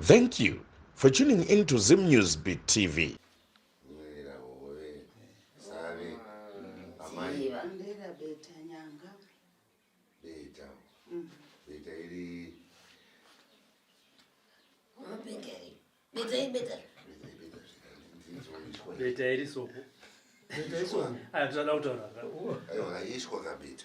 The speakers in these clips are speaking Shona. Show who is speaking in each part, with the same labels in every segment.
Speaker 1: Thank you for tuning in to Zim News Beat TV. Beta iri soko. Beta iri soko. Aya, tinoda kutaura. Ayo, haishwa kabeta.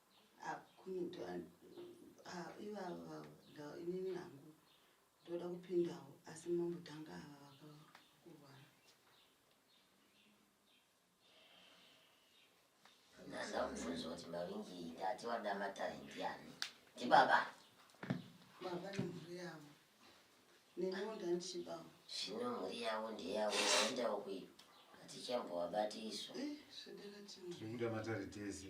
Speaker 2: ivava inini hangu ndoda kupindawo asi mambotanga ava vakakurwara ndaza kubvunza kuti mavingi ndati wada matare ndiani ndibaba baba nemhuri yavo neniwo ndandichibawo zvino mhuri yavo ndeyavo vaendawo kuyo atichambowabati isu eh, zvekuda matare tese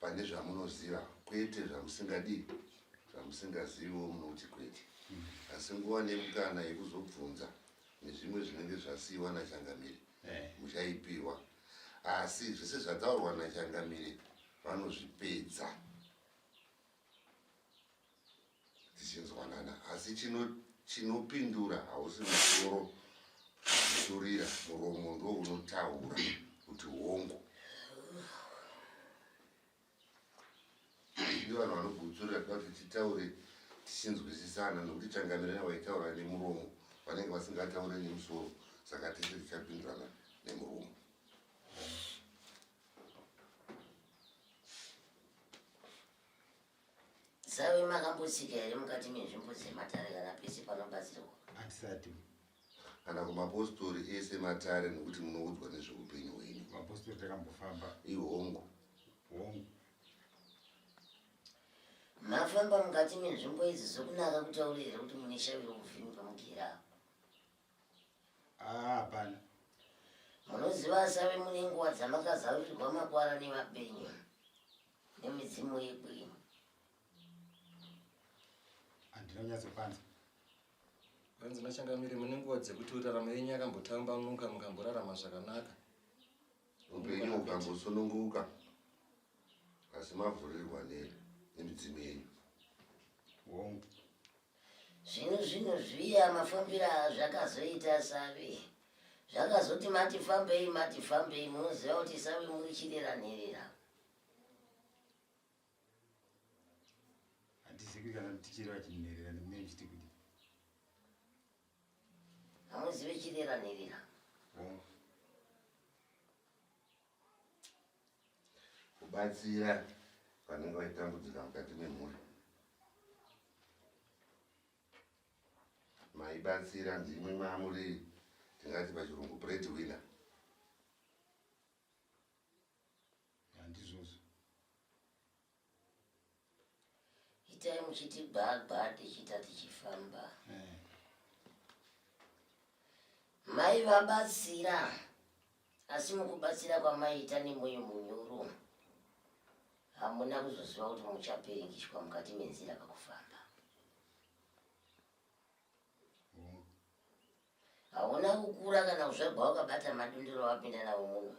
Speaker 2: pane zvamunoziva kwete zvamusingadii zvamusingaziviwo munoti kwete mm. asi nguva nemukana yekuzobvunza nezvimwe zvinenge zvasiyiwa nachangamire eh. muchaipiwa asi zvese zvataurwa nachangamire vanozvipedza dzichinzwanana asi chino chinopindura hausi musoro kuturira muromo ndo unotaura kuti hongu ndi vanhu vanogutsurira toda kuti titaure tichinzwisisana nokuti changamirana vaitaura nemuromo vanenge vasingataure nemusoro saka tese tichapindurana nemuromo
Speaker 3: Sawi makambotsika here mukati menzvimbo dzematare kana pese panobatsirwa? Hatisati.
Speaker 4: Kana
Speaker 2: kumapostori ese matare nokuti munoudzwa nezveupenyu hwenyu. Mapostori takambofamba.
Speaker 4: Ihongu. Hongu.
Speaker 3: Mafamba mukati menzvimbo idzi zvokunaka kutaura here kuti mune shavi rokuvhimi pamugera? Ah,
Speaker 4: hapana. Munoziva
Speaker 3: asavi mune nguva dzamakazarurirwa makwara nevapenyu. nemidzimu yedu
Speaker 4: ino handina kunyatsopanza
Speaker 5: hanzi machangamire mune nguva dzekuti uraramo yenyu yakambotambamuka mukamborarama zvakanaka
Speaker 2: upenyu ukambosununguka asi mavhurirwa nemidzimu yenyu
Speaker 4: hongu
Speaker 3: zvino zvino zviya mafambira zvakazoita savi zvakazoti matifambei matifambei munoziva kuti savi muri chirera nherera
Speaker 4: handizikwi kana mutichero achinherera ndimune chiti kuti hamuzive
Speaker 3: chirera nherera
Speaker 2: kubatsira vanenge vaitambudzika mukati memhuri maibatsira ndimwe mamuri tingati pachirungu bread winner
Speaker 4: Handizvozvo.
Speaker 3: Itai muchiti gbagba tichiita tichifamba. Eh. Mai vabatsira asi mukubatsira kwamaita nemoyo munyoro hamuna kuzoziva kuti muchapiringishwa mukati menzira kakufamba. Hauna kukura kana kuzvagwa wakabata madundiro wapinda navo muno.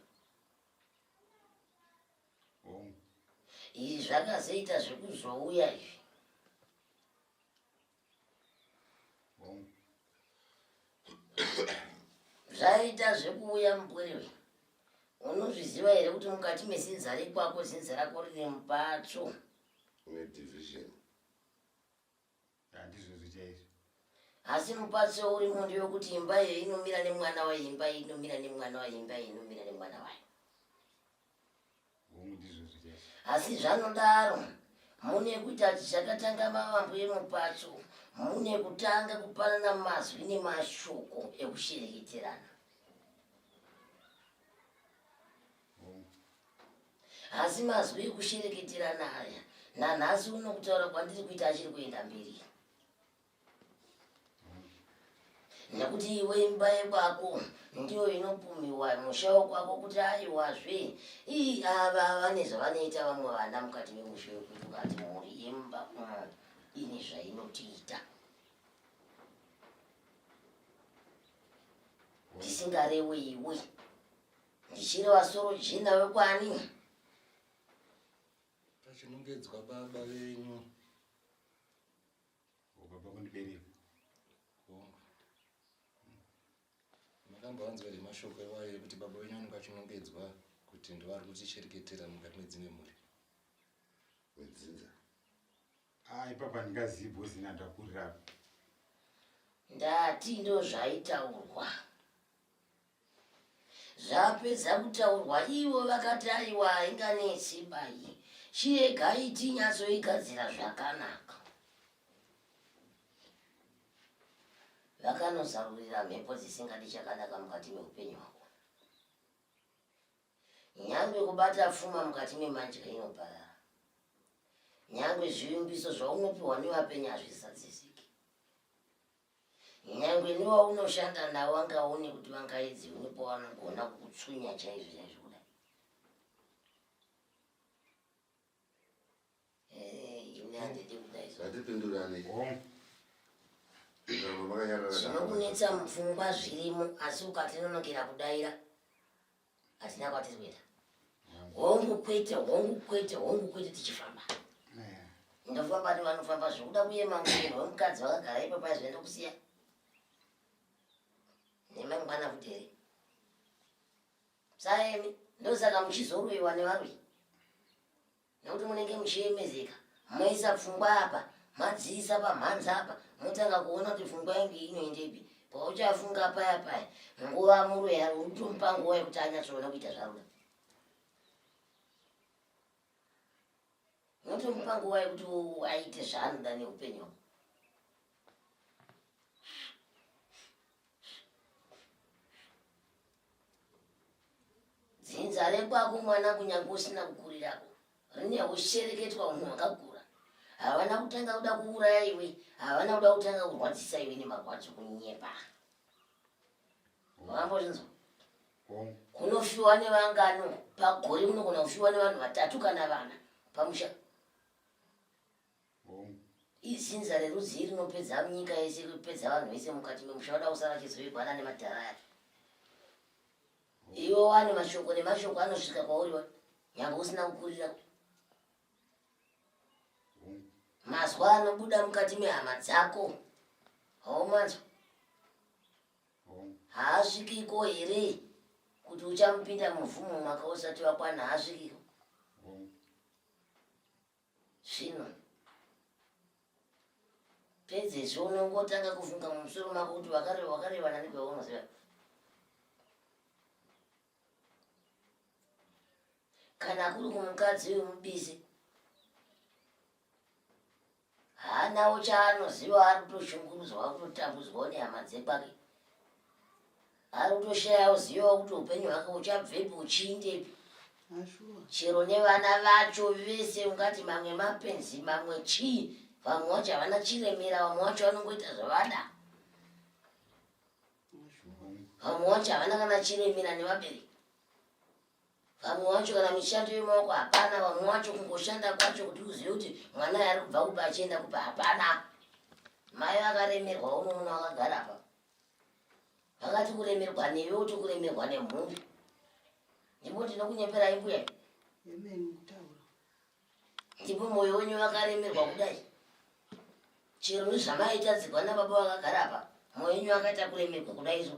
Speaker 3: Hongu. Izvi zvakazoita zvekuzouya izvi. Hongu. Zvaita zvekuuya mupwiriwe. Unozviziva here kuti mukati mezinza rekwako zinza rako rine mupatsvo. Une division.
Speaker 2: Handizvozvo
Speaker 4: chaizvo.
Speaker 3: Asi mupatso urimo ndewokuti imba iyo inomira nemwana wayo, imba iyi inomira nemwana wayo, imba iyi inomira nemwana wayo. Hongu, ndizvozvo chaizvo. Asi zvanodaro, mune kuita kuti zvakatanga mavambo emupatso, mune kutanga kupanana mazwi nemashoko ekushereketerana. Asi mazwi ekushereketerana aya nanhasi uno kutaura kwandiri kuita achiri kuenda mberi. Nekuti iwe imba yekwako ndiyo inopumiwa musha wekwako kuti aiwazve ii ava vane zvavanoita vamwe vana mukati memusha wekuti ukati mhuri yemba umo ine zvainotiita. Ndisingarewe iwe. Ndichiri wasoro jinda wekwani.
Speaker 5: Pachinongedzwa baba venyu.
Speaker 4: Baba kundibereka. Bongo.
Speaker 5: Makambowanzwa here mashoko ewayo ekuti baba venyu vanenge vachinongedzwa kuti ndivari kutichereketera mukati medzimwe mhuri?
Speaker 2: Wedzinza.
Speaker 4: Ah, ipapa ndingazivi bhosi nadakurira. Ndati
Speaker 3: ndozvaitaurwa. Zvapedza kutaurwa ivo vakati aiwa hainganetsi bayi chiregai tinyatsoigadzira zvakanaka. Vakanozarurira mhepo dzisingadi chakanaka mukati meupenyu hwavo. Nyangwe kubata pfuma mukati memanji kainoparara. Nyangwe zvivimbiso zvaunopiwa nevapenyu hazvizadzisiki. Nyangwe newaunoshanda nawo angaone kuti vangaedze unepo vanogona kutsunya chaizvo chaizvo kudai. Eh, ini handidi kudai. Ngatipindurane. Zvinokunetsa mupfungwa zvirimo asi ukatinonokera kudaira. hatina kwatiri kuenda hongu kwete hongu kwete hongu kwete tichifamba ndofamba ni vanofamba zvekuda kuye mangwiro vemukadzi vakagara ipo pai zvaenda kusiya nemangwana futi here saemi ndosaka muchizoroiwa nevaroi nekuti munenge muchiyemezeka maisa pfungwa apa madziisa pamhanzi apa motanga kuona kuti pfungwa yangu inoendepi pauchafunga paya paya nguva muroya utomupa nguva yekuti anyatsoona kuita zvaruda unotomupa nguva yekuti aite zvaanoda neupenyu dzinza rekwako mwana kunyange usina kukurirako rine ushereketwa unhu wakakura havana kutanga kuda kuuraya iwe havana kuda kutanga kurwadzisa iwe nemarwadzo kunyepa vambozvinzwa kunofiwa nevangano pagore munogona kufiwa nevanhu vatatu kana vana pamusha Mom. Izinza rerudzii rinopedza nyika yese kupedza vanhu vese mukati memusha vada kusara vachizovigwana nemadhara aya iwe wani mashoko nemashoko anosvika kwauri wa nyangwe usina kukurira mazwa anobuda mukati mehama dzako haumanzwa haasvikiko here kuti uchamupinda muvhumo mwaka usati wakwana haasvikiko Zvino pedzezvo unongotanga kufunga mumusoro mako kuti wakareva wakareva nani kwaunoziva kana kuri kumukadzi wemubisi haanawo chaanoziva ari kutoshungurudzwa kutotambudzwawo nehama dzekwake ari kutoshayawo ziva kuti upenyu hwake uchabvepi uchiindepi chero nevana vacho vese ungati mamwe mapenzi mamwe chii vamwe wacho havana chiremera vamwe wacho vanongoita zvavada vamwe wacho havana kana chiremera nevabereki vamwe wacho kana mishando yemaoko hapana vamwe wacho kungoshanda kwacho kuti uzive kuti mwana yaari kubva kuba achienda kuba hapana mai vakaremerwa unoona wakagara pa vakati kuremerwa newe uti kuremerwa nemhumbi ndipo ndinokunyeperai mbuya ndipo mwoyo wenyu vakaremerwa kudai chero nezvamaitadzirwa nababa vakagara apa mwoyo wenyu vakaita kuremerwa kudai izvo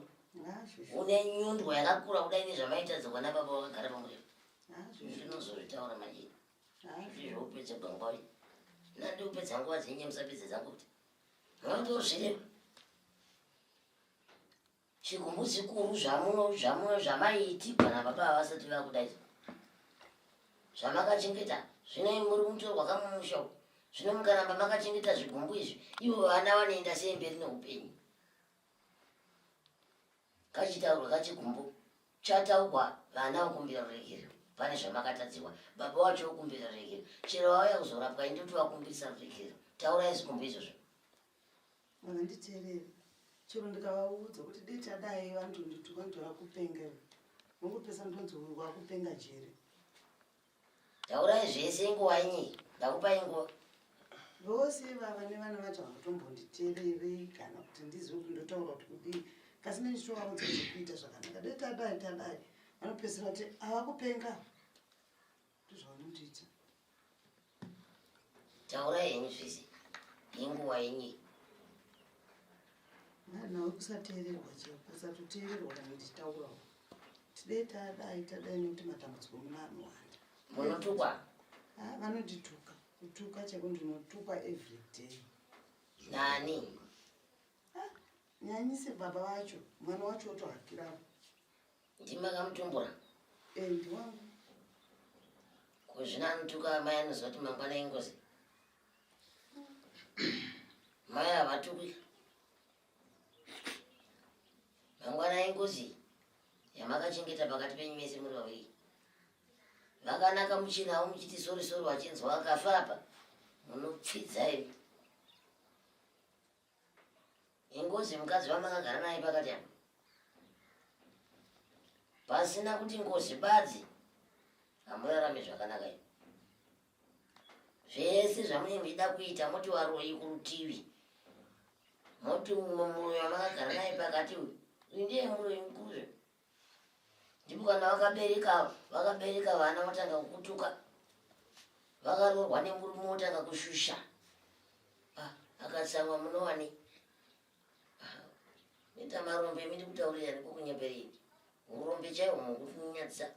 Speaker 3: une nyundwa yakakura kudai nezvamaitadzirwa nababa vakagara pamurero ndinozozvitaura manje izvozvo upedze gwangwai nandi upedza nguva dzenye musapedze dzangu kuti Ndizvo zviri chigumbu chikuru zvamuno zvamuno zvamaiti kana baba havasati vakudaidza zvamakachengeta zvino muri mutorwa kamumusha uku zvino mukaramba makachengeta zvigumbu izvi ivo vana vanoenda sei mberi neupenyu kachitaurwa kachigumbu chataugwa vana vokumbira ruregerero pane zvamakatadziwa baba wacho vokumbira ruregerero chero vauya kuzorapwa indoti vakumbirisa ruregerero taurai zigumbu izvozvo manditeerere
Speaker 6: chero ndikavaudza kuti dei tadai vandondituka ndora kupengera vongopesa ndonzorwa kupenga jere
Speaker 3: Taurai zvese inguva inyii. Ndakupai nguva. Vose
Speaker 6: ivava nevana vacho havatombonditererei kana kuti ndizive kuti ndotaura kuti kudii. Kasi neni chitovaudza zvekuita zvakanaka. Dai tadai tadai. Vanopedzisira kuti havakupenga. Ndozvavanondiita.
Speaker 3: Taurai henyu zvese. Inguva inyii.
Speaker 6: Mwana usateererwa chero. Usatoteererwa kana ndichitaurawo. tidei tadai tadai nekuti matambudziko muno anowanda munotukwa
Speaker 3: ah,
Speaker 6: vanondituka kutuka cheko ndinotukwa everyday nani
Speaker 3: ah,
Speaker 6: nyanyise baba vacho mwana wacho otohakirapo
Speaker 3: ndimakamutumbura e eh,
Speaker 6: ndiwangu
Speaker 3: kuzvina anotuka mai anoziva kuti mangwana ingozi mai havatukwi mangwana ingozi yamakachengeta pakati penyu mese muri vaviri vakanaka muchina avo muchiti sori sori wachinzwa akafa apa munopfidza ivi ingozi mukadzi vamakagara naye pakati apa pasina kuti ngozi badzi hamurarame zvakanaka ivi zvese zvamunenge muchida kuita moti varoyi kurutivi moti umwe muroyi wamakagara naye pakati uyu uyu ndiye muroyi mukuru ndipo kana vakabereka vakabereka vana votanga kukutuka vakaroorwa nemurume wotanga kushusha ah, akatsamwa munowane ah, nita marombe miri kutaurira niko kunyeperei urombe chaiwo mukunyadzisa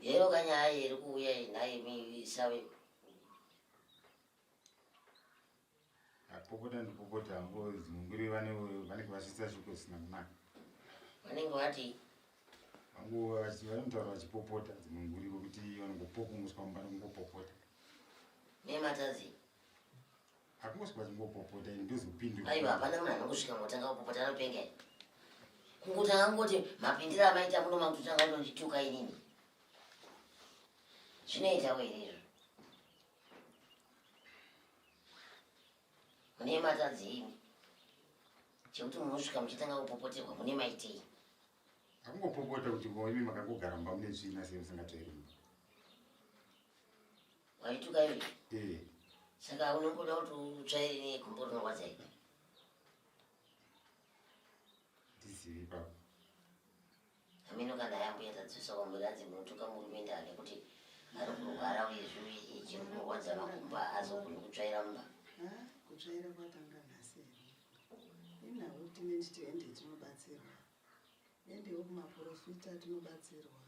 Speaker 3: yero kanyaya iri kuuya inaimi isawe
Speaker 4: apopota ndipopota hangu zimunguri vanenge vasvitsa shuko zvisina kunaka vanenge
Speaker 3: vati hangu
Speaker 4: vanotaura vachipopota zimunguri vokuti vanongopokumuswa mumba nokungopopota
Speaker 3: nematadzi
Speaker 4: hakungosi kwazingopopota ini ndozopindura aiwa hapana munhu anongosvika
Speaker 3: motanga kupopota anopenga i kunguti angangoti mapindiro amaita muno makutotanga kutondituka inini zvinoita weirezvo mune matadzi imi chekuti munosvika muchitanga kupopoterwa mune maitei
Speaker 4: akungopopota kuti imi makangogara mba mune tsvina sei musingatoerimba
Speaker 3: Waituka iwe. Eh. Saka unongoda kuti utsvaire negumbo rinorwadza iwe.
Speaker 4: Ndizivi baba.
Speaker 3: Amino kana yambuya tadzosa kwamuri hanzi munotuka murume ndaa nekuti ari kurwara uye zvivi chinorwadza makumba azogoni kutsvaira mumba. Ah, kutsvaira
Speaker 6: kwatanga nhasi here? Inawo tine titoende tinobatsirwa. Endewo kumaporofita atinobatsirwa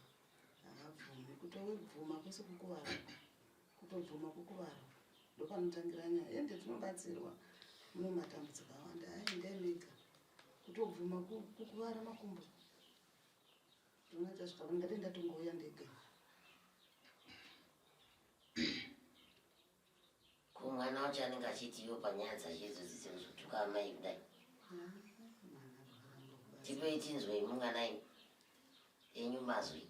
Speaker 6: haabvumi kutobvuma kwese kukuvara kutobvuma kukuvara ndopanotangira nyaya ende tinobatsirwa mune matambudziko awanda aendai mega kutobvuma kukuvara makumbo ndinoita zvikavangadai ndatongouya ndega
Speaker 3: kumwana wacho anenge achiti iwo panyaya dzazvidzo dzidzo kuzotuka amai kudai tipei tinzwei munganai enyu mazwi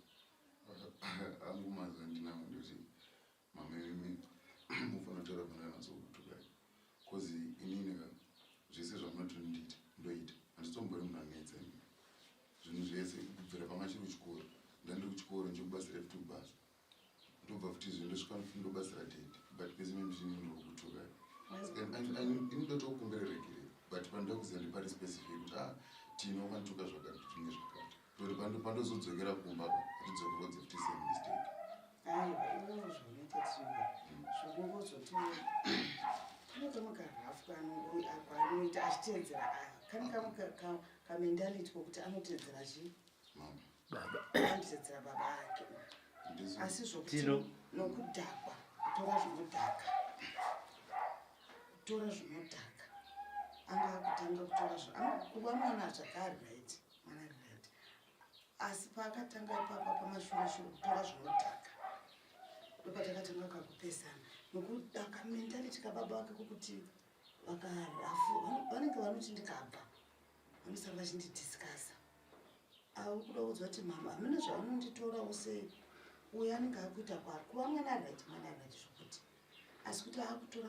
Speaker 2: angu mazwi andinango ndoti mamimi mufanotaura pananatsokutukai bcause inineka zvese zvamunotondiita ndoita handitombori munhu anetsa zvinhu zvese kubvira pamachiri kuchikoro ndandiri kuchikoro ndichikubatsira futi kubasa ndobva futi izvi ndosvika ndobatsira dede but pese memishini ndinokutukai ini ndotokumbira regere but panoda kuziva ndipari specific kuti a ah, tino ukanituka zvakati tinge zvakati toti pandozodzokera kumba atidzokerodze futi same mistake
Speaker 6: zvinoitaaanoita achiteedzera ah, kani kamendality kokuti anoteedzera chii baba andisedzera baba ake asi zvokuti nokudhakwa kutora zvinodhaka kutora zvinodhaka anga akutanga kutora kuva mwana zvakari right mwana ari right asi paakatanga ipapa pamashurashuru kutora zvinodhaka ndopatakatanga kakupesana nokudaka mentality kababa vake kokuti vakarafu vanenge vanoti ndikabva vanosara vachindidiscasa auri kuda kuudzwa kuti mama hamuna zvaunonditora use uyo anenge akuita kwari kuva mwana right mwana right zvokuti asi kuti akutora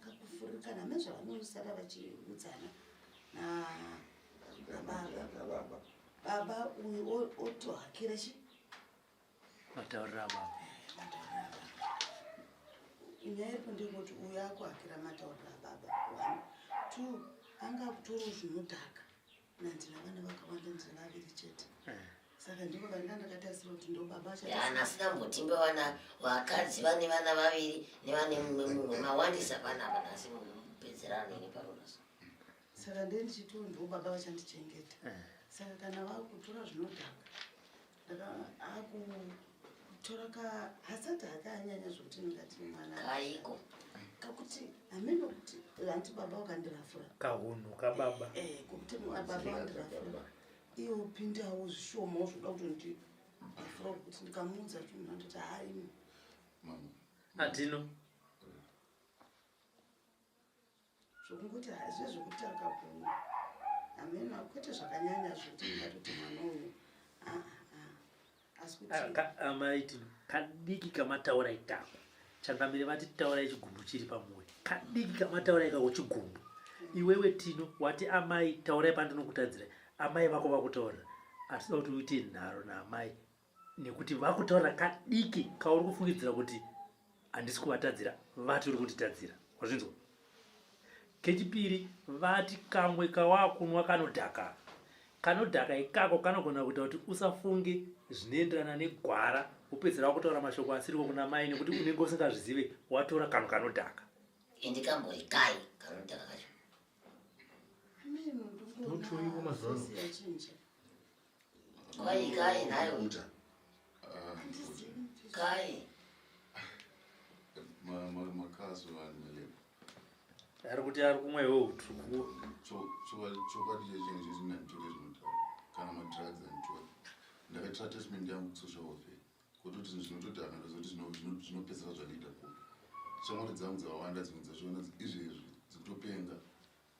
Speaker 6: kakufurikana hame zvavanousara vachiudzana nababa baba uyu otohakira chii
Speaker 7: Mataurira baba.
Speaker 6: Nyaipo ndingoti uyo akuhakira mataurira baba. One, two, anga kutoro zvinodhaka. Nandina vana vakawanda ndina vaviri chete. Eh. Saka ndipo vanga ndakatarisira kuti ndo baba acha. Yana sina mutimbe
Speaker 3: wana wakadzi vane vana vaviri nevane mumwe mumwe mawandisa vana vana asi munhu pedzerano ne paronas. Saka
Speaker 6: ndiye ndichiti ndo baba vachandichengeta. Eh. Saka kana vakutora zvinodhaka. ndakaakutora ka hasati hakanyanya zvokuti ndingati mwana kaiko
Speaker 3: kakuti
Speaker 6: hameno kuti hanti baba wakandirafura kahunhu kababa
Speaker 7: e, e, kuti baba
Speaker 6: wandirafura iyo pindawo zvishomawo zvoda kuti ndi afura kuti ndikamuudza chinhu anditi haimi
Speaker 7: atino
Speaker 6: Zvokungoti hazvive zvokuti akaguma. Hameno kwete zvakanyanya zvokuti ndingatoti mwana uyu aa asi kuti ah, amaiti ah,
Speaker 7: kadiki kamataura itako changamire vati taura chigumbu chiri pamoyo kadiki kamataura ikako chigumbu iwewe tino wati amai taurai pandinokutadzira amai vako vakutaurira atida kuti uite nharo naamai nekuti vakutaura kadiki kauri kufungidzira kuti handisi kuvatadzira vati uri kunditadzira wazvinzwa kechipiri vati kamwe kawakunwa kanodhaka kanodhaka ikako kanogona kuita kuti usafunge zvinoenderana negwara upedzera wakutaura mashoko asiriko kuna mai nekuti unenge usingazvizive watora kanhu kanodhaka ende kambori
Speaker 3: kai kanodhaka kacho
Speaker 7: mutuiko mazano
Speaker 3: Kai
Speaker 2: kai nayo. Uta. Ah, kai. Ma ma makazo vanile.
Speaker 7: Ari kuti ari kumwe wo utuku. Cho cho cho
Speaker 2: kwadi chenje chenje na ntore zvinota. Kana ma drugs and ntore. Ndakaita treatment yangu social welfare. Kuti kuti zvinotoda kana zoti zvino zvinopesera zvanoita ko. Shamwari dzangu dzawanda dzimwe dzazviona izvezvi dzikutopenga.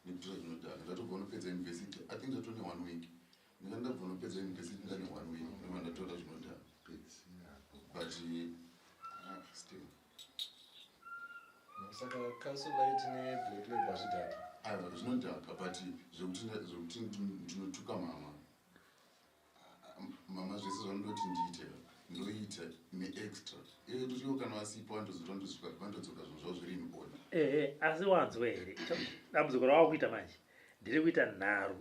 Speaker 2: Ndipitira zvinodhaka ndatobva unopedza university i think ndatone one week ndika ndabva unopedza university ndane one week ndova ndatora zvinodhaka but ah, still
Speaker 5: saka council light neblack labor zvidhaka aiwa zvinodhaka but
Speaker 2: zvekuti ndinotuka mama mama zvese zvanodoti ndiite ndoita neextra iwe kutiwo kana vasipo vandozoto ndosvika vandodzoka zvinhu zvavo zviri inona ehe asi wanzwa here
Speaker 7: dambudziko rawava kuita manje ndiri kuita nharo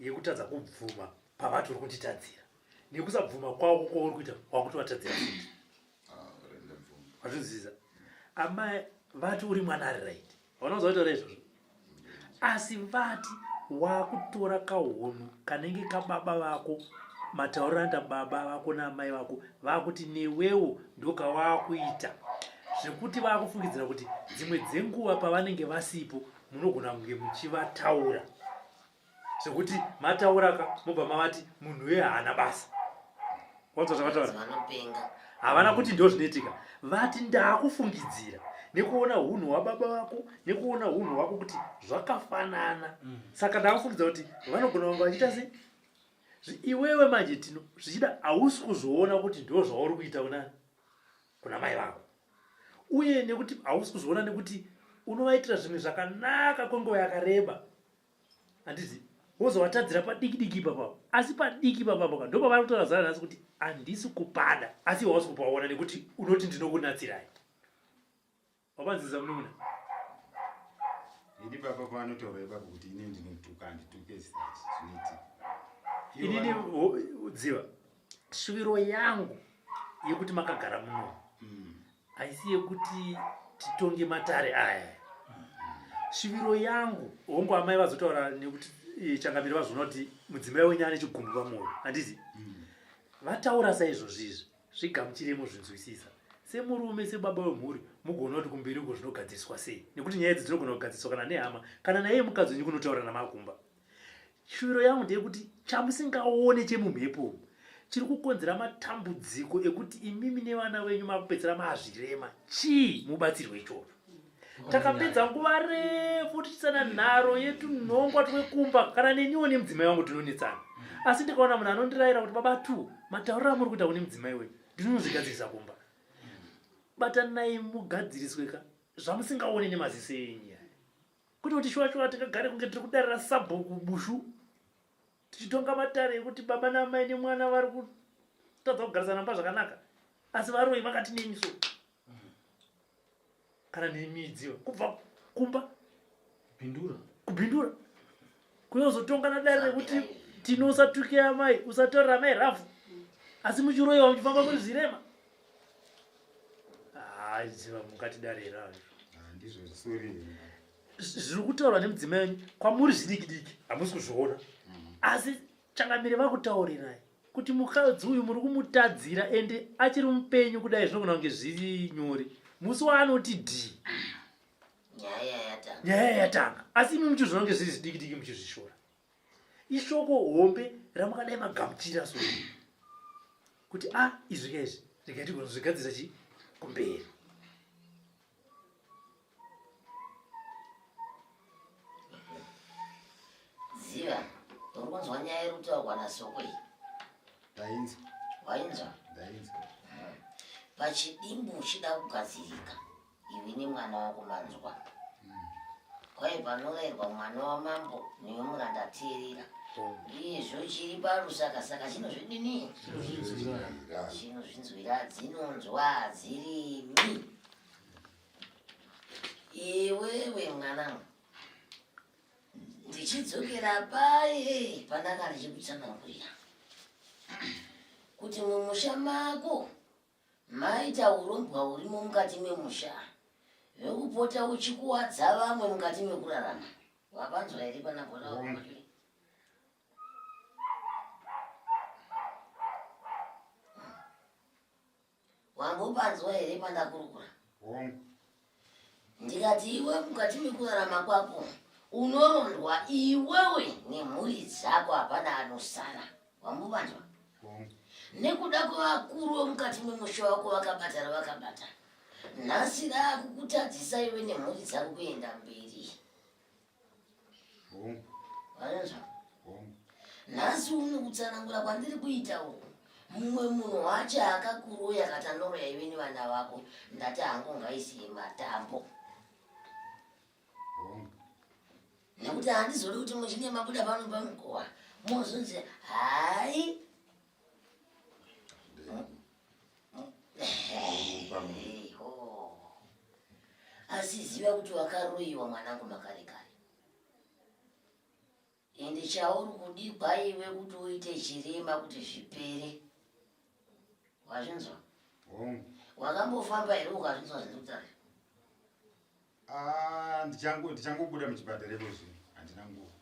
Speaker 7: yekutadza kubvuma pavati uri kunditadzira nekusabvuma kwavo kwauri kuita wakutovatadzira futi wazvinzwisa amai vati uri mwana ari right vanozoitora izvozvo asi vati wakutora kahunhu kanenge kababa vako matauriro anoita baba vako naamai vako vakuti newewo ndokawaakuita zvekuti vakufungidzira kuti dzimwe dzenguva pavanenge vasipo munogona kunge muchivataura zvekuti mataura ka mobva mavati munhu uye haana basa wanzwa zvavataura havana kuti ndo zvinoitika vati ndakufungidzira nekuona hunhu hwababa vako nekuona hunhu hwako kuti zvakafanana mm. saka ndakufungidza kuti vanogona vanga vachiita sei iwewe manje tino zvichida hausi kuzoona kuti ndo zvauri kuita kuna kuna mai vako uye nekuti hausi kuzoona nekuti unovaitira zvimwe zvakanaka kwenguva yakareba handizi wozowatadzira padiki diki ipapapo asi padiki ipapapo ka ndopavari kutaura zana nhasi kuti handisi kupada asi wawasi kupaona nekuti unoti ndinokunatsirai wapanziza mununa
Speaker 4: ini papa panotaura ipapo kuti ini ndinotuka handituke zvinoitika inini
Speaker 7: dziva shuviro yangu yekuti makagara muno mm. haisi yekuti titonge matare aya shiviro yangu hongu amai vazotaura nekuti eh, changamire vazvona kuti mudzimai wenyu ane chigumbu pamwoyo handizi mm. vataura saizvozvi izvi zvigamuchiremo zvinzwisisa semurume sebaba wemhuri mugoona kuti kumberi uko zvinogadziriswa sei nekuti nyaya idzi dzinogona kugadziriswa kana nehama kana naiye mukadzi wenyu kunotaura namakumba Shuviro yangu ndeyekuti chamusingaone chemumhepo umu chiri kukonzera matambudziko ekuti imimi nevana venyu makupedzera mazvirema chii mubatsirwe ichocho takapedza nguva refu tichisana nharo yetunhongwa twekumba kana neniwo nemudzimai wangu tinonetsana asi ndikaona munhu anondirayira kuti baba two matauriro amuri kuita kune mudzimai wenyu ndinonozvigadzirisa kumba batanai mugadziriswe ka zvamusingaone nemaziso enyu kwete kuti shuwa shuwa tingagare kunge tiri kudarira sabhuku bushu tichitonga matare ekuti baba naamai nemwana vari kutadza kugarisana mumba zvakanaka asi varoyi vakati nemiso kana nemidziyo kubva kumba kubindura kubindura kuyozotonga nadare rekuti tino usatuke amai usatorera amai rafu asi muchiroiwa muchifamba muri zvirema haiziva mukati dare hera ah,
Speaker 4: zviri
Speaker 7: kutaurwa nemudzimai wenyu kwamuri zvidiki diki hamusi kuzviona mm. asi changamire vakutaurirai kuti mukadzi uyu muri kumutadzira ende achiri mupenyu kudai zvinogona kunge zviri nyori musi waanoti dhii nyaya yatanga asi imi muchizviona kunge zviri zvidiki diki muchizvishora ishoko hombe ramakadai magamuchira so kuti a ah, izvi ka izvi rikaitigona zvigadzisa chi kumberi
Speaker 3: ziva uri kunzwa nyaya iri kutaurwa nasoko iyi ndainzwa
Speaker 4: wainzwa
Speaker 3: ndainzwa pachidimbu uchida kugadzirika iwe nemwana wako manzwa kwaye panoverwa mwana wamambo newe muranda teerera izvo chiri parusaka saka chinozvidini chinozvinzwira dzinonzwa dzirimi iwewe mwanangu ndichidzokera paye pandanga ndichikutsanangurira kuti mumusha mako Maita hurombwa hurimo mukati memusha vekupota uchikuwadza vamwe mukati mekurarama wapanzwa here pana bhora wakumaturi wambopanzwa here pandakurukura ndikati iwe mukati mekurarama kwako unorondwa iwewe nemhuri dzako hapana anosara wambuvanzwa nekuda kwevakuru vemukati memusha wako vakabata ravakabata nhasi raakukutadzisa iwe nemhuri dzako kuenda mberi hongu anonzwa hongu nhasi uno kutsanangura kwandiri kuitawo mumwe munhu wacho akakuroya katanoroya ive nevana vako ndati hangu ngaisiye matambo nekuti handizodi kuti muchinge mabuda pano pamukowa mozonzi hai asiziva kuti wakaroyiwa mwanangu makare kare ende chauri kudigwa iwe kuti uite chirema kuti zvipere wazvinzwa wakambofamba here ukazvinzwa zviri kutaura Ah,
Speaker 4: ndichango ndichangobuda muchipatara iko zvino handina nguva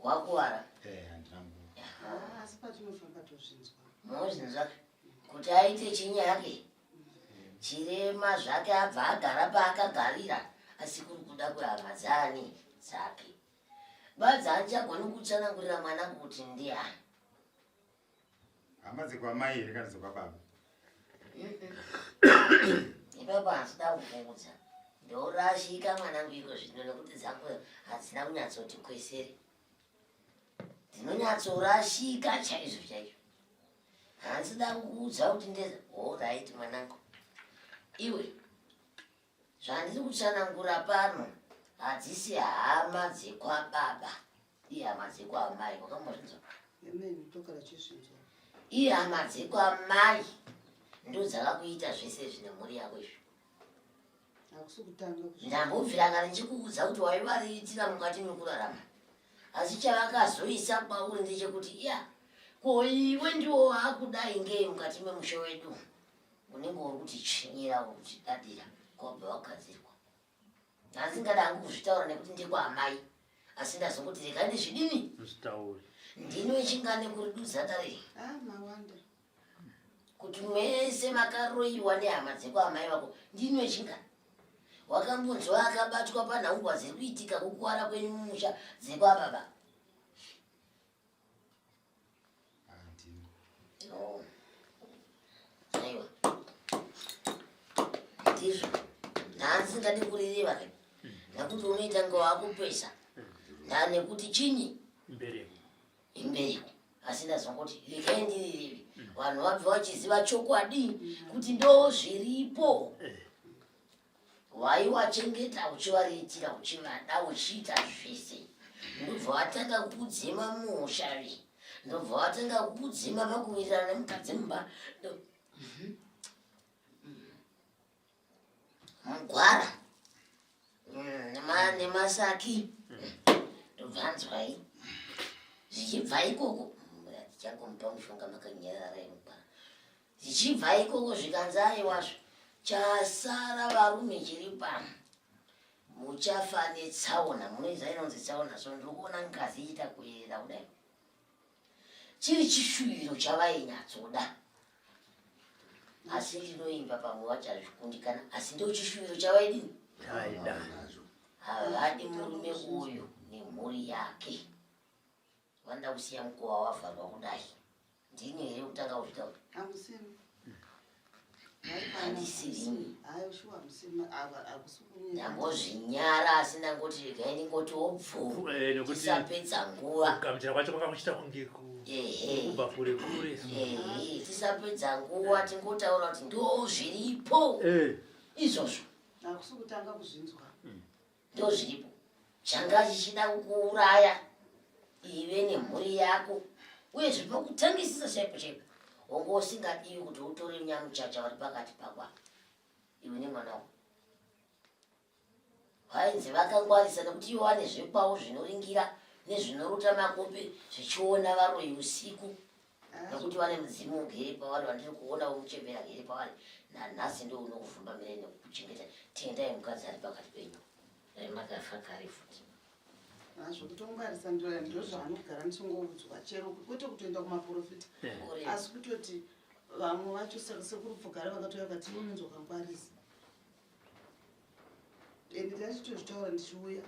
Speaker 4: wakuvara
Speaker 3: eh handina
Speaker 4: nguva Ah, asi patinofamba
Speaker 6: tozvinzwa mozvinzwa
Speaker 3: kuti aite chinyi yake chirema zvake abva agara paakagarira asi kuri kuda kuhama dzani dzake badza andichagoni kutsanangurira mwana kuti ndiani hama
Speaker 4: dzekwamai here kana dzekwababa
Speaker 3: ibaba hazvida kukuudza ndourashika mwanangu iko zvino nekuti dzako hadzina kunyatsoti kwesere dzinonyatsorashika chaizvo chaizvo hanzida kukuudza kuti ndeza horaiti mwanangu iwe zvandiri kutsanangura pano hadzisi hama dzekwababa Iye amadziko amai wakambozvinzwa? Amen, tokara
Speaker 6: chizvinzwa. Iye amadziko
Speaker 3: amai ndodzakakuita zvese zvine mhuri yako izvi
Speaker 6: ndambobviranga
Speaker 3: ndichikuudza kuti waivariitira mukati mekurarama asi chavakazoisa kwauri ndechekuti ya ko iwe ndiwo waakudai ngei mukati memusha wedu unenge uri kutichinyira uri kutidadira kwabva wagadzirwa hanzi ndingada hangu kuzvitaura nekuti ndekwaamai asi ndazongoti regai ndizvidini zvitaure ndino echingane kuri dudzatare
Speaker 7: ah,
Speaker 3: kuti mese makaroyiwa nehama dzekwaamai vako ndino echingane wakambonzwa akabatwa panhaumbwa dziri kuitika kukuwara kwenyu mumusha dzekwababa ndizvo ndaasingadi kurireva ke nakuti unoita ngo akupesa nda nekuti chinyi imbereko imbereko asi ndazwa kuti rekai ndirireve vanhu vabva vachiziva chokwadi kuti ndo zviripo eh. waiwachengeta uchivariitira uchivada uchiita zvese ndobva watanga kudzima muushavi ndobva watanga kudzima pakuwirirana nemukadzi mumba mugwara mm, nemasaki ndobva anzwai zvichibva ikoko tichakomupa mushonga makanyarara yemugwara Dzichibva ikoko zvikanzi aiwazvo chasara varume chiri pano muchafa netsaona munoiza inonzi tsaona so ndiri kuona ngazi ichiita kuyerera kudai chiri chishuviro chavainyatsoda asi ndinoimba pamwe vachazvikundikana asi ndo chishuviro chavaidini havadi murume uyu nemhuri yake vanoda kusiya mukuva wavharwa kudai ndini here
Speaker 6: kutanga
Speaker 3: kuzvita kuti hamusiri
Speaker 6: handisirini ndangozvinyara
Speaker 3: asi ndangoti regai ndingoti obvuusapedza eh, nguva kugamuchira kwacho kwanga kuchita
Speaker 7: kunge kubva kure kure tisapedza
Speaker 3: nguva tingotaura kuti ndo zviripo eh. izvozvo hakusi kutanga
Speaker 6: kuzvinzwa mm.
Speaker 3: ndozviripo changa chichida kukuuraya ive nemhuri yako uye zvinokutangisisa chaipo chaipo hongo usingadiwi kuti utore nyamuchacha vari pakati pakwa iwe nemwana wako vainzi vakangwarisa nekuti ivo vane zvekwavo zvinoringira nezvinorota makope zvichiona varoyi usiku nokuti vane mudzimu ugere pavari vandiri kuona womuchembera agere pavari nanhasi ndo unokuvhumba mire nekukuchengeta tendai mukadzi ari pakati penyu remakafa kare futi nazvo
Speaker 6: kutongwarisa ndoya ndo zvaanogara ndisongoudzwa chero kwete kutoenda kumaprofita eh. asi kutoti vamwe vacho saka sekuru pfugara vakatouya vakati unonzwa kangwarisa and ndachitozvitaura ndichiuya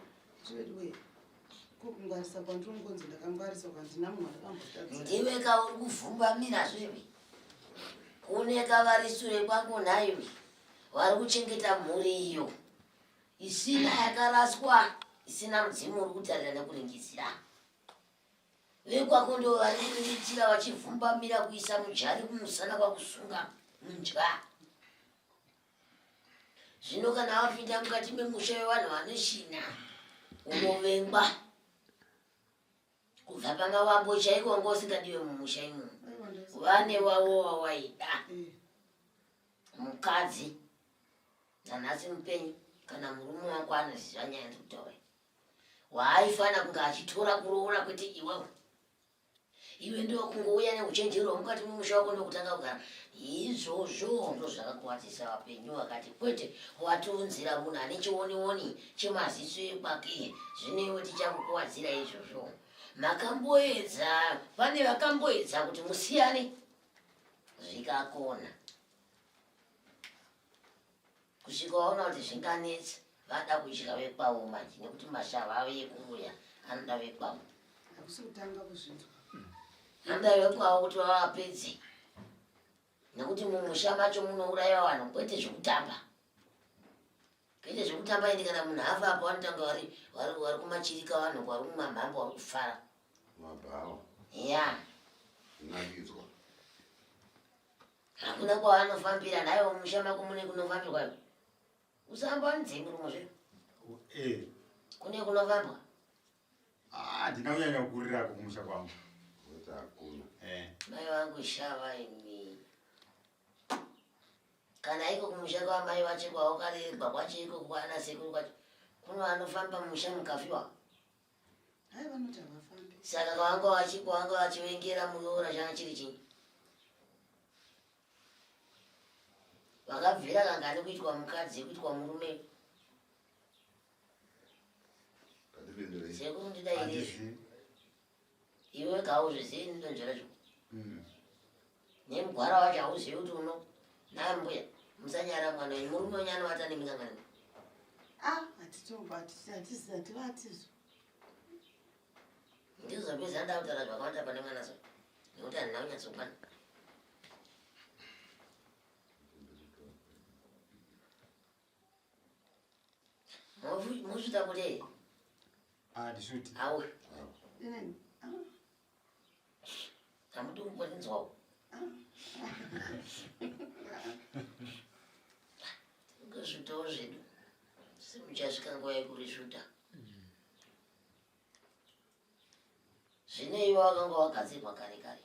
Speaker 6: zvediwei kokungwarisa kwandinongonzi ndakangwarisa kwandina munhu akambotatsa ndiwe kauri
Speaker 3: kuvhumbamira zvevi kune kavari sure kwako nhaiwe vari kuchengeta mhuri iyo isina yakaraswa isina mudzimu uri kutarira nekuringizira vekwako ndo vari kuriritira vachivhumbamira kuisa mujari kumusana kwakusunga mudya zvino kana wapinda mukati memusha wevanhu vanoshina unovengwa kubva panga wambo chaiko wanga usingadiwe mumusha imo vane wavo wawaida mukadzi nanhasi mupenyu kana murume wako anoziva nyaya ndikutaura waaifana kunge achitora kuroora kwete iwewe iwe ndokungouya neuchenjeri hwamukati mumusha wako ndokutanga kugara izvozvo ndo zvakakuwadzisa vapenyu vakati kwete watiunzira munhu ane chionioni chemaziso ekwake zvinewe tichakukuwadzira izvozvo makamboedza pane vakamboedza kuti musiyane zvikakona Kusvika waona kuti zvinganetsa vada kudya vekwavo manje nekuti mashava avo ekuuya anoda vekwavo. Hakusi kutanga
Speaker 6: kuzvinzwa. Anoda
Speaker 3: vekwavo kuti vavapedze nekuti mumusha macho munouraiwa vanhu kwete zvekutamba kwete zvekutamba ende kana munhu afa apo vanotanga vari vari vari kumachirika vanhu vari kumamhambo vari kufara mabhawa
Speaker 2: ya
Speaker 3: nakidzwa Hakuna kwaanofambira naye mumusha mako mune kunofambirwa iwe. Usahamba wanidze murumo zve. Eh. Kune kunofambwa. Ah,
Speaker 4: ndina kunyanya kukurira kumusha kwangu. Kuti hakuna.
Speaker 2: Eh. Mai vangu
Speaker 3: shava imi. Kana iko kumusha kwa mai vacho kwaokarerwa kwacho iko kwana sekuru kwacho. Kuno anofamba musha mukafiwa.
Speaker 6: Hai vanoti havafambi. Saka kwanga wachi
Speaker 3: kwanga wachivengera muroora changa chiri chinyi? Vakabvira kangani kuitwa mukadzi kuitwa murume? Ndipindure. Sekuru ndidairei? Handizvi. Iwe kauzvizivi ndinonzvera zvo. Mm. nemugwara wacho hauzivi kuti uno naye mbuya musanyara mwana wenyu murume wenyu anovata nemingangani ah,
Speaker 6: hatitoativatizvo
Speaker 3: ndizvo zvapedza nda kutaura zvakawanda pane mwana so nekuti handina kunyatsokwana mosvita kuti
Speaker 4: handisviti awe
Speaker 3: Hamudi kumbonzwawo. Ngezvitawo zvedu. Simuchasvika nguva yekurisvuta. Zvine iwe wakanga wagadzirwa kare kare.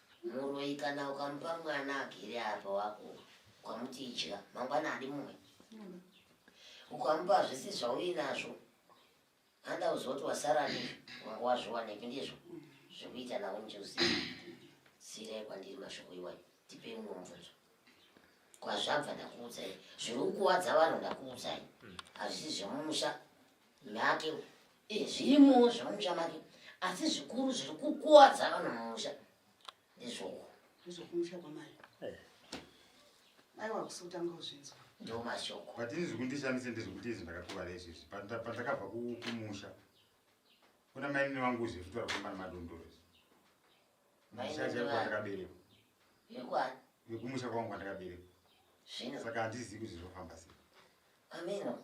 Speaker 3: Muroyi kana ukamupa mwana agere apa wako ukamuti idya mangwana adi mumwe mm. ukamupa zvisi zvauinazvo anda uzoti wasara ndizvo wanga wazviwanepi ndizvo mm. zvekuita nawo njuzi sirai kwandiri mashoko iwayo tipei mumwe mubvunzo kwazvabva ndakuudzai zviri kukuwadza vanhu ndakuudzai mm. hazvisi zvemumusha Make eh, zvirimowo zvemusha make asi zvikuru zviri kukuwadza vanhu mumusha ndizvoko ndizvokumusha
Speaker 6: kwamai eh. mai wakusi kutanga kuzvinzwa ndo mashoko
Speaker 3: but ini zvekundishandise
Speaker 4: ndezvekuti izvi ndakakuvara izvizvi pandakabva kumusha kuna mainini vangu zvekutora kumbana madondoro ndakaberekwa
Speaker 3: vekumusha kwangu
Speaker 4: kwandakaberekwa saka
Speaker 3: handizivi kuti
Speaker 4: zvinofamba sei ameno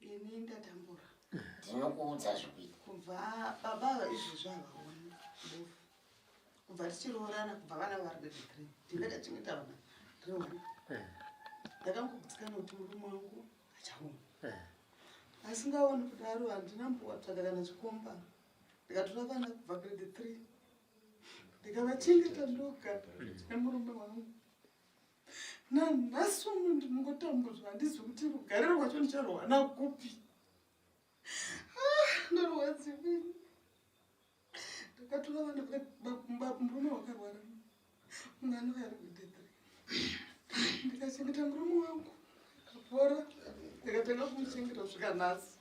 Speaker 6: ini ndatambura ndinokuudza
Speaker 3: zvikuita kubva
Speaker 6: baba izvi zvavaona kubva tichiroorana kubva vana vari bedecre ndingachachengeta vana reona eh. ndakangokudzikana kuti murume wangu achaona eh. asingaoni kudaro handina mbowatsvaga kana chikomba ndikatora vana kubva grade three ndikavachengeta ndoga nemurume wangu nanhasi uno ndinongotambudzwa handizi kuti rugare rwacho ndicharohwana kupi ah, ndorwadzivini ndakatora vana murume wakarwara mwana waari kudedre ndikachengeta murume wangu akapora ndikatanga kumuchengeta kusvika nhasi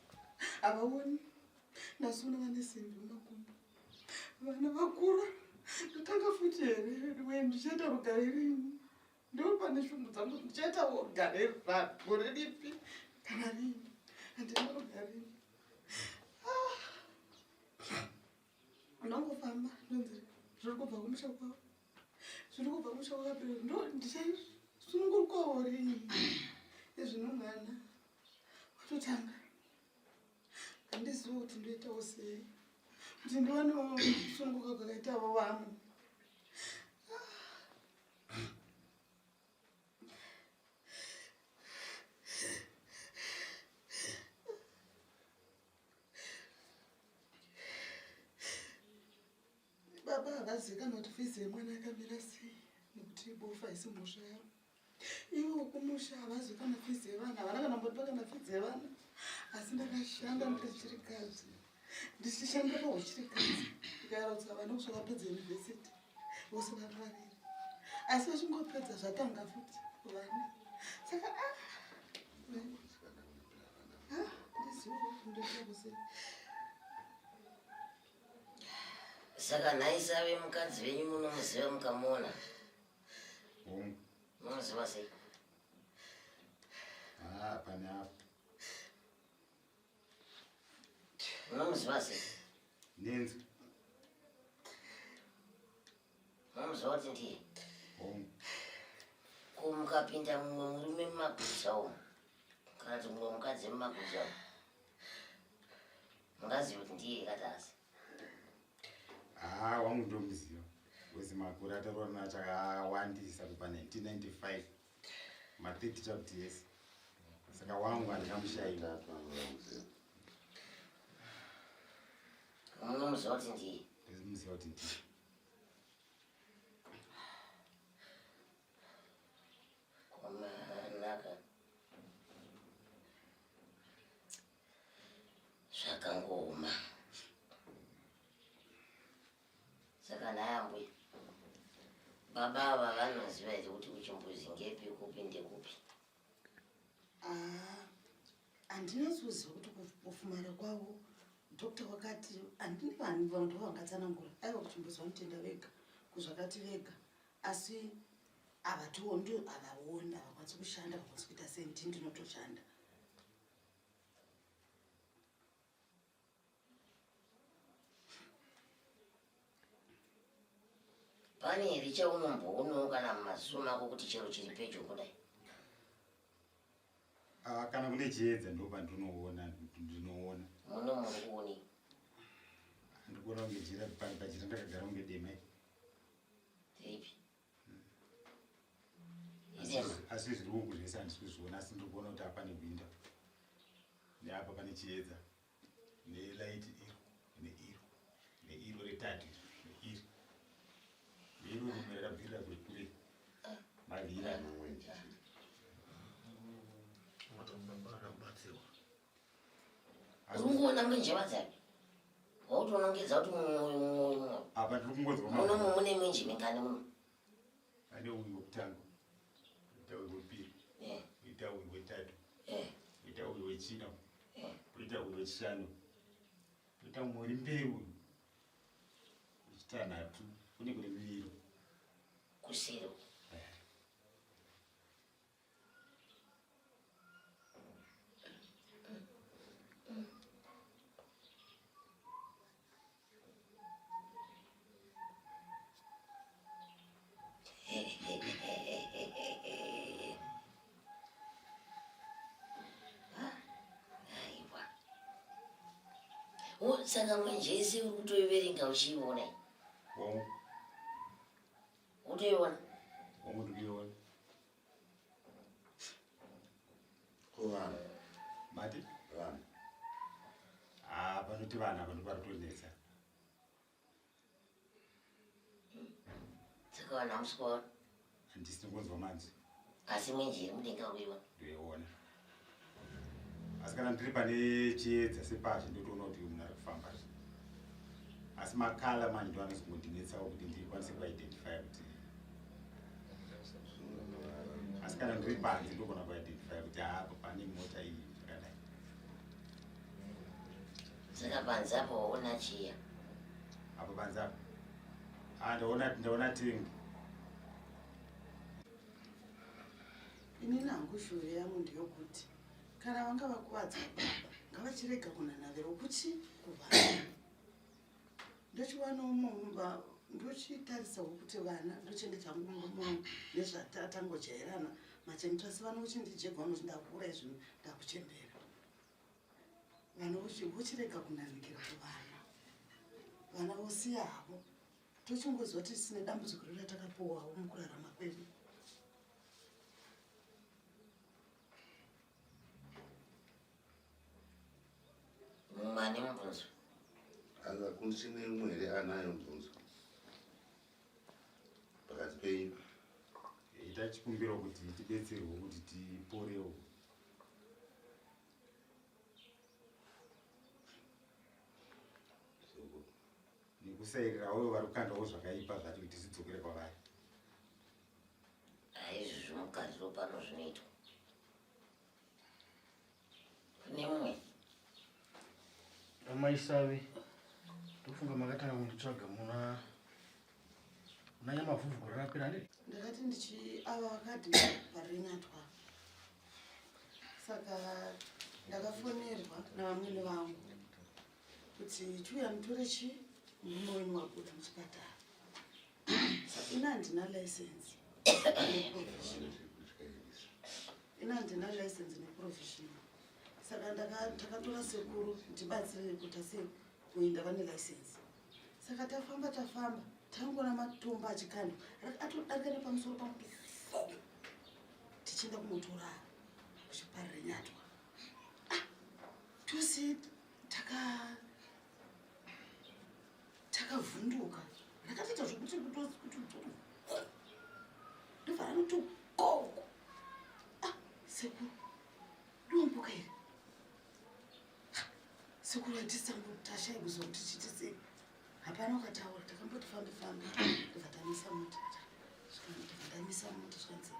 Speaker 6: havaoni nhasi uno vane simbi mumakumbo vana vakura ndotanga futi here we ndichaita rugare rini ndopane shungu dzangu ndichaita rugare gore ripi kana rini handina rugarini ah. ndongofamba ndonzi zviri kubva kumusha kwavo zviri kubva kumusha kwakapera ndo ndichaisunungurukwawo rini ezvino mwana watotanga handizivo kuti ndoitawo sei kuti ndiwanewo kusunguka kwakaitavo vamwe Baba havazikanwa kuti fizi yemwana yakamira sei nekuti ibofu haisi mhosva yavo. Ivo ukumusha havazi kana fizi yevana havana kana mbotipa kana fizi yevana asi ndakashanda ndichirikadzi ndichishandira pauchirikadzi ndikayaraudza vana kusva vapedza yunivhesiti vose vari vaviri asi vachingopedza zvatanga futi vana saka ah, ah, ndizivo ndoita kusei
Speaker 3: saka nhai save mukadzi venyu munomuziva mukamuona munoziva sei
Speaker 4: ah, pane apo
Speaker 3: munomuziva sei nenzi
Speaker 4: munomuziva
Speaker 3: kuti ndiye
Speaker 4: ko mukapinda
Speaker 3: mumwe murume mumaguza umu kana kuti mumwe mukadzi mumaguza umu mungaziva
Speaker 4: kuti ndiye katasi haa wangu ndomuziva wese makore ataroora nacho akawandisa kubva 1995 ma30 chakuti yese saka wangu handikamushaira
Speaker 3: munomuziva kuti ndiye ndimuziva kuti ndiye zvakangooma saka nayambwe baba ava vanoziva here kuti kuchimbuzi ngepi kupi ndekupi
Speaker 6: ah, handinasi kuziva kuti kufumara kwavo doctor wakati handini vanhu vanhu ndovangatsanangura aiva kuchimbuzi vanotenda vega kuzvakati vega asi havatiwo ndo havaoni havakwanisi kushanda havakwanisi kuita senti ndinotoshanda
Speaker 3: pane here chaunomboonawo kana mumaziso mako kuti chero chiri pedyo kudai
Speaker 4: ah, kana kune chiedza ndopandinoona ndinoona
Speaker 3: muno muri kuonei
Speaker 4: ndikuona kunge jira pari pachira ndakagara kunge demai ripi asi zviri uku zvese handisi kuzviona asi ndiri kuona kuti apa nehwinda neapa pane chiedza nelaiti iro neiro neiro retatu neiri neiro rimwe rakabvirira kuri kure mavhiri anomwenje
Speaker 3: asi kungoona mwenje vadzani wautonongedza kuti apa tiri kungonzwa
Speaker 4: muno mune mwenje
Speaker 3: mingani muno ane
Speaker 4: uyu wekutanga ita uyu wepiri ita uyu wetatu ita uyu wechina poita uyu wechishanu poita mumwe uri mberi uyu wechitanhatu kune kune miviro kusiro
Speaker 3: saka mwenje yese uri kutoiverenga uchiiona Utoiona. Wangu
Speaker 4: ndikuiona.
Speaker 2: Ko vanhu.
Speaker 4: Mati? Vanhu.
Speaker 2: Ah,
Speaker 4: vanoti vanhu ava ndipo varitonetsa.
Speaker 3: Saka vanhu hamusi kuona. Handisi ndikunzwa
Speaker 4: manzi. Asi mwenje iri
Speaker 3: mudenga uiona. Ndoiona.
Speaker 4: asi kana ndiri pane chiedza sepachi ndotoona kuti munhu ari kufamba zvi asi makala manje ndo anozongondinetsawo kuti ndikwanise kuidentify kuti asi kana ndiri panze ndogona kuidentify kuti haapo pane mota iyi zvakadai
Speaker 3: saka panze apo waona chiya apo
Speaker 4: panze apo ah, ndaona ndaona tengi
Speaker 6: ini nangu shuvhe yangu ndeyokuti kana vanga vakuvadza baba ngavachirega kunanavira ukuti kuvana ndochiwana umomba ndochitarisawo kuti vana ndochengeta mumba mangu nezvatatangojairana machengetwa asi vana uchindijegwa vano chindakuura izvi ndakuchembera vana vochirega kunanikira kuvana vana vosiya havo tochingozwa tisine dambudziko rira takapuwawo mukurarama kwedu
Speaker 3: mane mubvunzo
Speaker 2: akakundisine imwe here anayo mubvunzo pakati penyu ita
Speaker 4: chikumbiro kuti tibetserwe kuti tiporewo nekusairira uyo vari kukandawo zvakaipa zvacho kuti zvidzokere kwavari
Speaker 3: aizvi zvimukadzi wopano zvinoitwa kune mumwe
Speaker 8: amaisavi ndofunga makatanga kunditsvaga muna unanya mavhuvhu gore rapera ndiri ndakati ndichi
Speaker 6: ava vakati varinyatwa saka ndakafonerwa navamwene vangu kuti chiuya mutore chi murume wenyu wabuda muchipatara ina handina license ina handina license neprovisional saka ndakatora sekuru ndibatsire kuti ase kuenda vane license saka tafamba tafamba tangoona matombo achikandwa atodarika nepamusoro pangu tichienda kunotora kuchiparire nyatwa tose taka takavhunduka ndakatoita zvekuti kuti ndobva ranoti gogo ah, sekuru ndiwambuka here ah, sekuru atisangotasha ikuziva kuti chiti sei hapana ukataura takamboti fambe fambe ndobva tamisa mota ndamisa mota zvanzi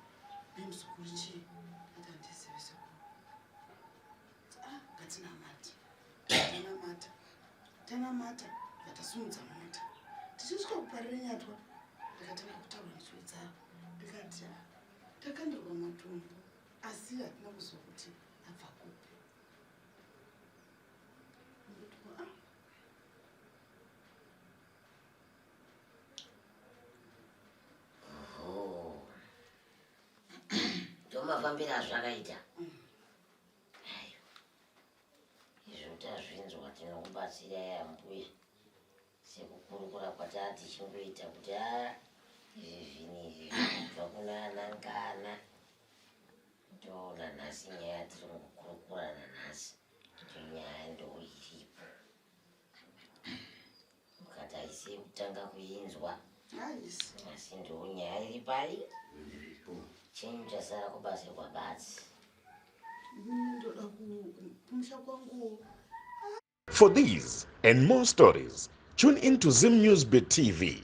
Speaker 6: nemuzukuru chii akandizive sekuru Ah, ngatinamate. Tanamata. Tanamata. Ndakasimudza mota. Tichisvika kuparira nyatwa. Ndakatanga kutaura nzwi dzavo. Ndikati ah, takandirwa matumbu asi hatina kuzwa kuti abva kupi.
Speaker 3: Ndikuti, ah, Oho. Ndomafambira azvakaita. izvo tazvinzwa tinokubatsira yambuye sekukurukura kwataa tichingoita kuti a ah, izvi zvinhu izvi zvinobva kuna anangana toona nhasi nyaya tiri kukurukurana nhasi kuti nyaya ndoo iripo Mukati haisi yekutanga kuinzwa. Asi ndiwo nyaya iri pai? Chenyu chasara kubasa kwabatsi.
Speaker 6: Ndoda kumusha kwangu.
Speaker 1: For these and more stories, tune in to Zim News Beat TV.